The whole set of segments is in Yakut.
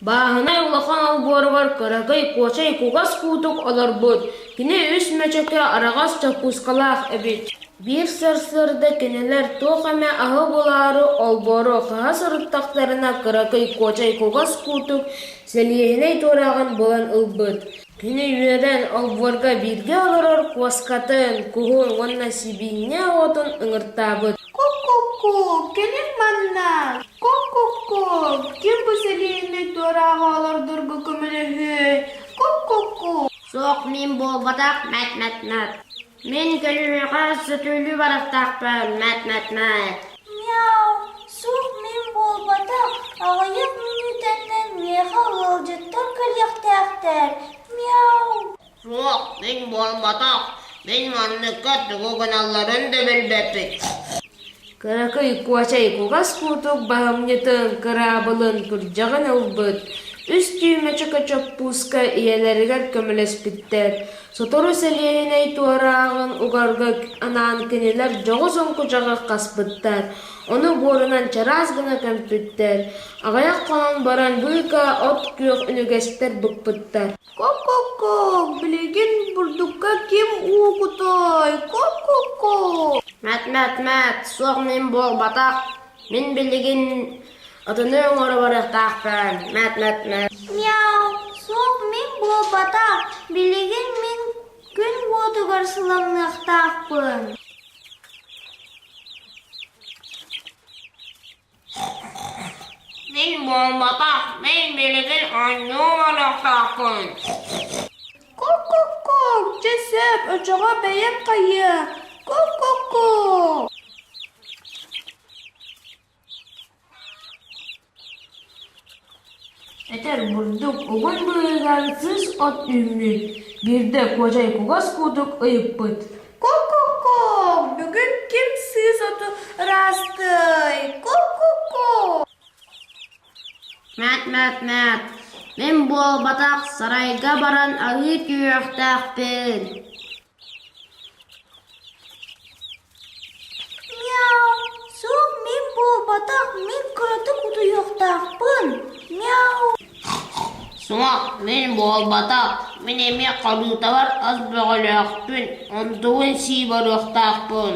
Бааһынай улахан олбуоругар кыракый кочай кугас куутук олорбут, кини үс мөчөкө араҕас чоппуускалаах эбит. Биир сарсыарда кинилэр туох эмэ аһы булаары олбуору хаһа сырыттахтарына кыракый кочай кугас куутук сэлиэһинэй туораҕын булан ылбыт Кини үөрэн олбуорга бииргэ олорор куоскатын, куһун уонна сибиинньэ уотун ыҥыртаабыт. Ку-ку-ку, кэлин манна! Ку-ку-ку, ким бу сэлиэнньэ туорааҕы олордорго көмөлөһүөй? Ку-ку-ку. Суох, мин буолбатах, мэт-мэт-мэт. Мин көлүһүэхэ сутуллуу барахтаахпын, мэт-мэт-мэт Мяу, суох мин буолбатах, аҕыйах мүнүүтэннэн миэхэ ыалдьыттар кэлиэхтээхтэр Мяу Суох, мин буолбатах, мин манныкка тугу гыналларын да билбэппин Кыракый Куоча кугас куотук баһымньытын кыраабылын күрдьэҕин ылбыт, үс түүмэ чөкөчөппууска ийэлэригэр көмөлөспүттэр. Сотору сэлиэһинэй туорааҕын угарга анаан кинилэр дьоҕус оҥкудьаҕы хаспыттар, ону буорунан чараас гына көмпүттэр. Аҕыйах хонон баран быыкаа от-күөх үнүгэстэр быкпыттар Ко-ко-ко, билигин бурдукка ким уукутай? Ко-ко-ко. Мэт-мэт-мэт, суох мин буолбатах. Мин билигин ытыны оҥоро барыахтаахпын. Мэт-мэт-мэт. Мяу, суох мин буолбатах. Билигин мин күн уотугар сыламныахтаахпын. Мин буолбатах, мин билигин анньыы гыныахтаахпын Ку-ку-ку, дьэ сөп, очоҕо бэйэм хайыа Ку-ку-ку Этэр бурдук угун быыһыгар сыыс от үүммүт, биирдэ Куодьай кугас куутук ыйыппыт: «Ку-ку-ку! Бүгүн ким сыыс оту ыраастыай? Ку-ку-ку!» «Мээт, мээт, мээт, мин буолбатах сарайга баран арыы түһүөхтээхпин» Суох, мин буолбатах, мин эмиэ Халыытабар ас бөҕөлөөхпүн, ордугун сии барыахтаахпын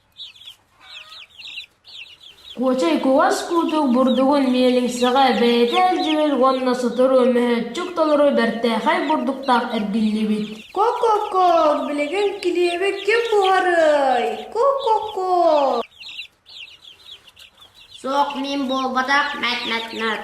Куочай кугас куутук бурдугун миэлиҥсэҕэ бэйэтэ илдьибит уонна сотору мөһөөччүк толору бэртээхэй бурдуктаах эргиллибит «Ко-ко-ко, билигин килиэбит ким буһарыай? Ко-ко-ко» Суох миин буолбатах, мэт-мэт-мэт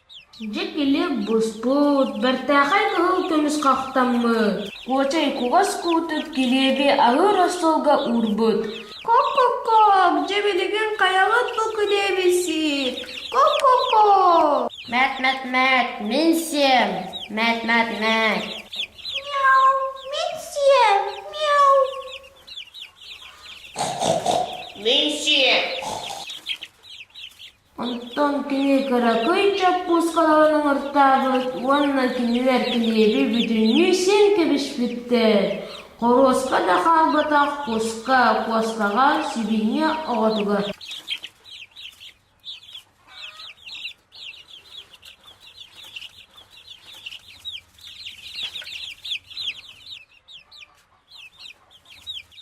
Дьэ кини буспут, бэртээхэй кыһыл көмүс хахтаммыт. Куочай кугас куутут килиэби аһыыр остуолга уурбут. Кок-кок-кок, дьэ билигин хайаҕыт бу килиэбисик? Кок-кок-кок! Мээт-мээт-мээт, мин сиэм! Мээт-мээт-мээт! Мяу, мин сиэм! Мяу! Мин сиэм! Оттон кини кыракый чоппуускаларын оҥортообут уонна кинилэр килиэби бүтүннүү син кэбиспиттэр, хоруоска да хаалбатах куска куостаҕа сибиинньэ оҕотугар